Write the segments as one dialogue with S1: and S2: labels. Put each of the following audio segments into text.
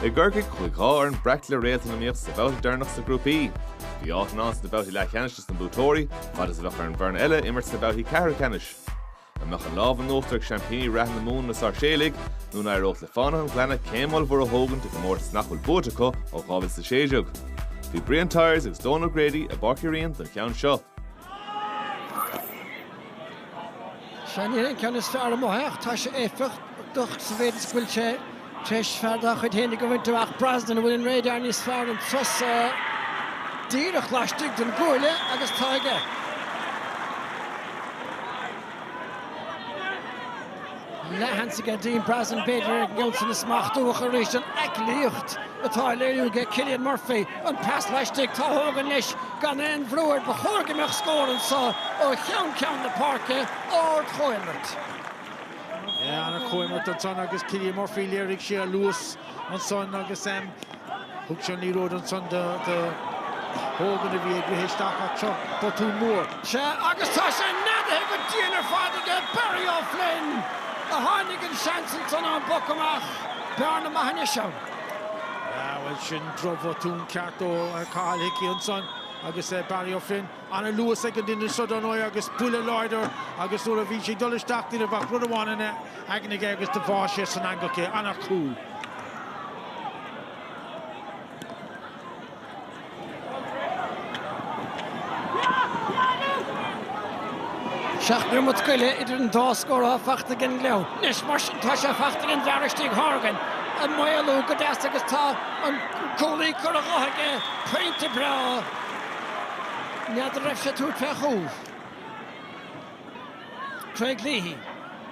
S1: I gCorcaigh, chuaigh dhá fhoireann breac le réaltaí in iomaíocht sa bhabhta deireanach sna grúpaí. Bhí áit ann sna babhtaí leathcheannais dos na buaiteoirí, fad is a bheadh ar an bhfoireann eile imirt sna babhtaí ceathrú ceannais. An mbeadh an lámh in uachtar ag seaimpíní reatha na Mumhan, na Sáirséalaigh, nó an éireodh le Fánaithe an Ghleanna céim ollmhór a thógaint i gcomórtas nach bhfuil buaite acu ó 2016? Bhí Brian Tyers agus Dónal O'Grady i bPáirc Uí Rinn don cheann seo.
S2: Sea, ní hé an ceann is fearr amach ach tá sé éifeachtach sa mhéid is go bhfuil sé tar éis fear dá chuid fhéinig a bhaint amach. Brosnan, an bhfuil an radar níos fearr an turas so? Díreach laistigh den gcuaille agus tá aige. leathsheans aige Dean Brosnan b'fhéidir, ag Neilson a smachtú ach arís an aicillíocht atá á léiriú aige Cillian Murphy, an pas laistigh, Tá Hogan leis gan aon bhrú air, ba chóir go mbeadh scór anseo ó cheann ceann na páirce,
S3: ard-chomhimirt. An-chomhimirt ansan agus Cillian Murphy, léirigh sé a luas ansan agus. Thug sé an liathróid ansan do Hogan a bhí ag rith isteach ach seo botún mór. Sea agus tá
S2: sé neadaithe go dian ar fad aige Barry Ó Floinn a tháinig an seans ansan ón bpoc amach. Bearna maith anois ann.
S3: Bhuel sin drochbhotún ceart ó Cathal Hickey ansan agus Barry Ó Floinn. ana luas ag an duine so dar ndóigh agus buille láidir agus nuair a bhí sé ag dul isteach ní raibh ach rud amháin ina aigne aige agus do bháth sé san eangach é. Ana chúl.
S2: Seacht neomat go leith idir an dá scór atá fachta ag an nGleann. Anois mar sin tá sé fachta ag an bhfear istigh Horgan a mhaolú go deas agus tá an cúlaí curtha dhe aige, pointe breá N'fheadar raibh sé ag tabhairt fé chúl. Craig Leahy,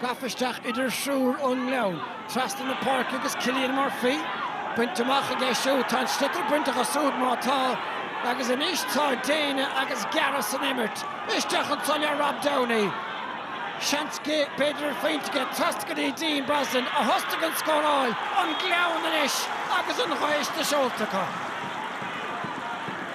S2: gafa isteach idir thriúr ón nGleann, trasna na páirce agus Cillian Murphy bainte amach aige siúd. Tá an sliotar bainte acu súd, má tá, agus anois tá déine agus gearradh san imirt. Isteach anso le Rob Downey. Seans go b'fhéidir ar phointe aige. Trasna go dtí Dean Brosnan, a thosnaigh an scóráil. An Gleann anois agus an ghaoth sna seolta acu.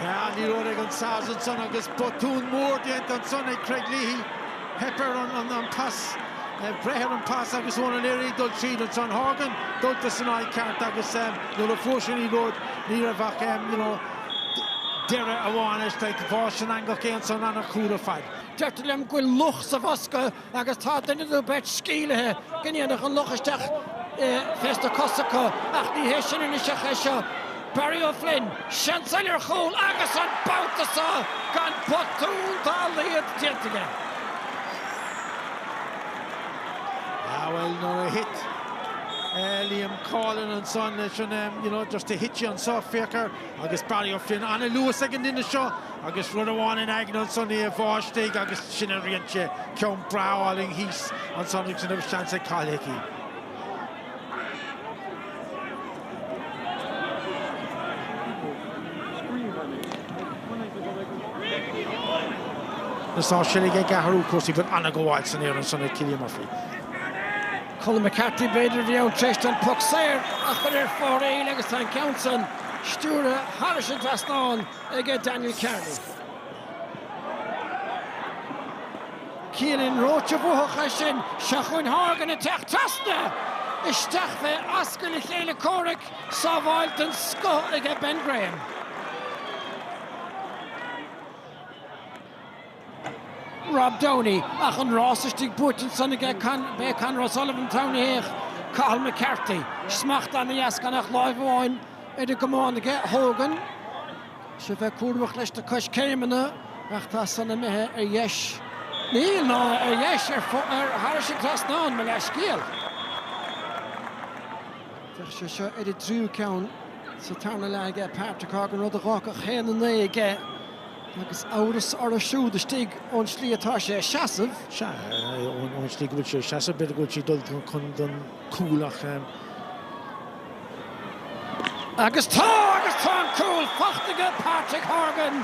S3: Liathróid ag an Sars ansan agus botún mór déanta ansan ag Craig Leahy. Theip air an pas, breith ar an pas agus Eoin O'Leary ag dul tríd ansan. Horgan dulta san áit cheart agus nuair a fuair sé liathróid ní raibh ach, you know, deireadh amháin leis, like, bháth sé san eangach é ansan, an-chúl ar fad. Deirtear liom go bhfuil
S2: luch sa bhosca agus tá duine nó beirt sceimhlithe go ndéanfadh an luch isteach fés na cosa acu, ach ní hé sin anois ach é seo, Barry O'Flynn, seans eile ar chúl agus an babhta seo gan botún dá laghad déanta
S3: aige. Ah bhuel, nuair a thit Liam Coughlan ansan leis an, you know, just to hit you on soft, féach air. Agus Barry O'Flynn an-luas ag an nduine seo agus rud amháin in aigne ansan é a bhá istigh agus sin a rinn sé, ceann breá álainn thíos ansan agus ní raibh seans ag Cathal Hickey. Na Sáirséalaigh ag athrú cúrsaí go an-ghabháil san aer ansan ag Cillian Murphy.
S2: Colm McCarthy, B'fhéidir a bhí ann tar éis an puc saor a chur ar fóraoil agus tá an ceann san stiúrtha thairis an trasnán ag Daniel Kearney. Cillian Roche, Bhuafadh é sin seo chugainn Horgan ag teacht trasna! Isteach fé ascaill a chéile comhraic, sábháil den scoth ag Ben Graham. Rob Downey, ach an rás istigh buaite ansan aige, b'é Conor O'Sullivan an t-am a théadh Cathal McCarthy, smacht ana dheas gan ach láimh amháin ar an gcamán aige, Horgan, sé bheith cúramach leis na coiscéimeanna ach tá san imithe ar dheis, níl, ná ar dheis, ach thairis an trasnán, mo leithscéal. Bheadh sé seo ar an dtríú ceann sa tarna leath aige Patrick Horgan, rud a dh'fhágfadh haon a naoi aige Agus amhras orthu siúd istigh ón tslí atá sé ag seasamh.
S3: Sea, ón tslí go bhfuil sé ag seasamh, b'fhéidir go bhfuil sé ag dul chun don chúl ach. Agus tá! Agus
S2: tá an cúl faighte aige Patrick Horgan,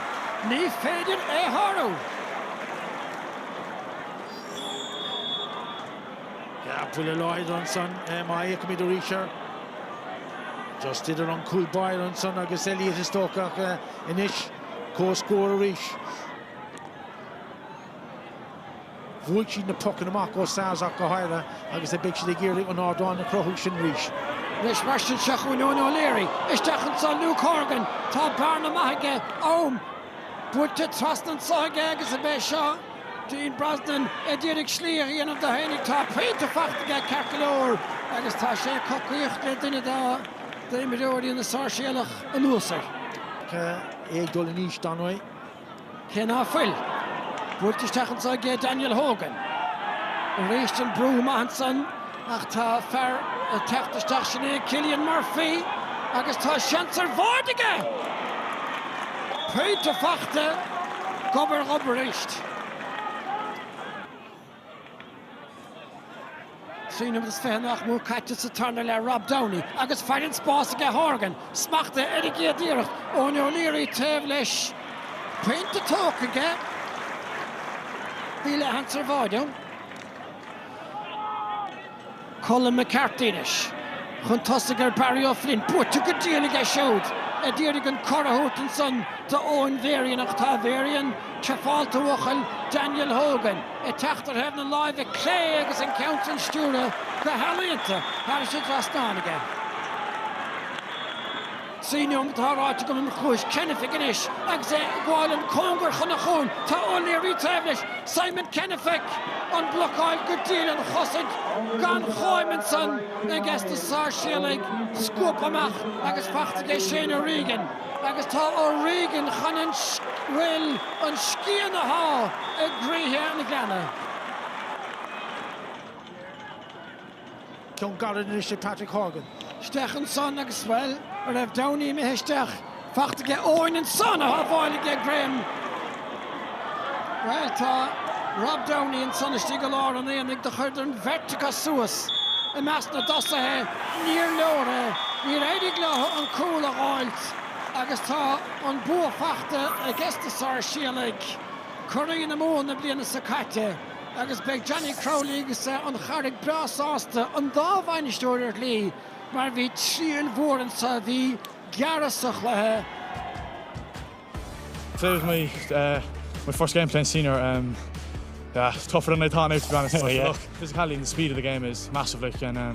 S2: ní féidir é a
S3: shárú. Buille láidir ansan má fhéachaimid arís air. Just idir an cúl báire ansan agus Elliot is dócha ach anois. Comhscór arís. Bhuaigh siad na pocanna amach, ó Sars ach go háirithe, agus beidh siad ag iarraidh an ardán a chruthú sin arís. Anois mar
S2: sin, seo chugainn Eoin O'Leary. Isteach ansan Luke Horgan. Tá bearna maith aige, am buailte trasna anso aige agus ab é seo. Dean Brosnan a d'iarraidh slí a dhéanamh dó fhéinig tá pointe faighte aige ceart go leor agus tá sé ag cocaíocht le duine dá d'imreoirí na Sáirséalach anuas air. Agus
S3: é ag dul in aois dar ndóigh. Cé
S2: ná fuil buailte isteach anso aige Daniel Hogan arís an brú maith ansan. Ach tá fear ag teacht isteach, sin é Cillian Murphy agus tá seans ar bháide aige! Pointe fachta, gob ar ghob arís. Trí nóiméad is fiche nach mór caite sa tarna leath, Rob Downey agus foireann spáis aige, Horgan smachta ar an gcéad iarracht, Eoin O'Leary taobh leis, pointe tógtha aige, bhí leathsheans ar bháide ann. Colm McCarthy anois chun tosaigh ar Barry Ó Floinn. Buaite go diail aige siúd a d'iarraidh an cor a thabhairt ansan do Eoin Varian ach tá Varian te fáilte a bhuachaill Daniel Hogan ag teacht ar thaobh na láimhe clé agus an ceann san stiúrtha go healaíonta thairis an trasnán aige. Trí neomat tá ráite go mbíonn cluais Kennefick anois agus é ag gabháil an cóngar chun an chuain. Tá O'Leary taobh leis. Simon Kennefick an blocáil go diail an chosaint gan cháim ansan aiges na Sáirséalaigh scuabtha amach agus fachta aige Shane O'Regan agus tá O'Regan chun an bhuel an scian a shá i gcroíthe an Ghleanna.
S3: ceann gairid anois ag Patrick Horgan. isteach
S2: ansan agus bhuel tá Rob Downey imithe isteach fachta aige Eoin ansan a shábháil aige Graham bhuel tá Rob Downey ansan istigh i lár an aonaigh do chuireadar an bheirt acu suas i measc na dtosaithe níor leor é níor éirigh leo an cúl a dh'fháilt agus tá an bua fachta aiges na Sáirséalaigh curaidh na Mumhan na bliana seo caite. agus beidh Johnny Crowley agus an Charraig breá sásta an dá bhainisteoir ar shlí mar bhí triail mhór anseo, bhí gearradh sa chluiche.
S4: Today was my uh, my first game playing senior. Um, yeah, it's tougher than I thought now, to be honest. Oh, yeah. Look, physicality and the speed of the game is massive, like, and um,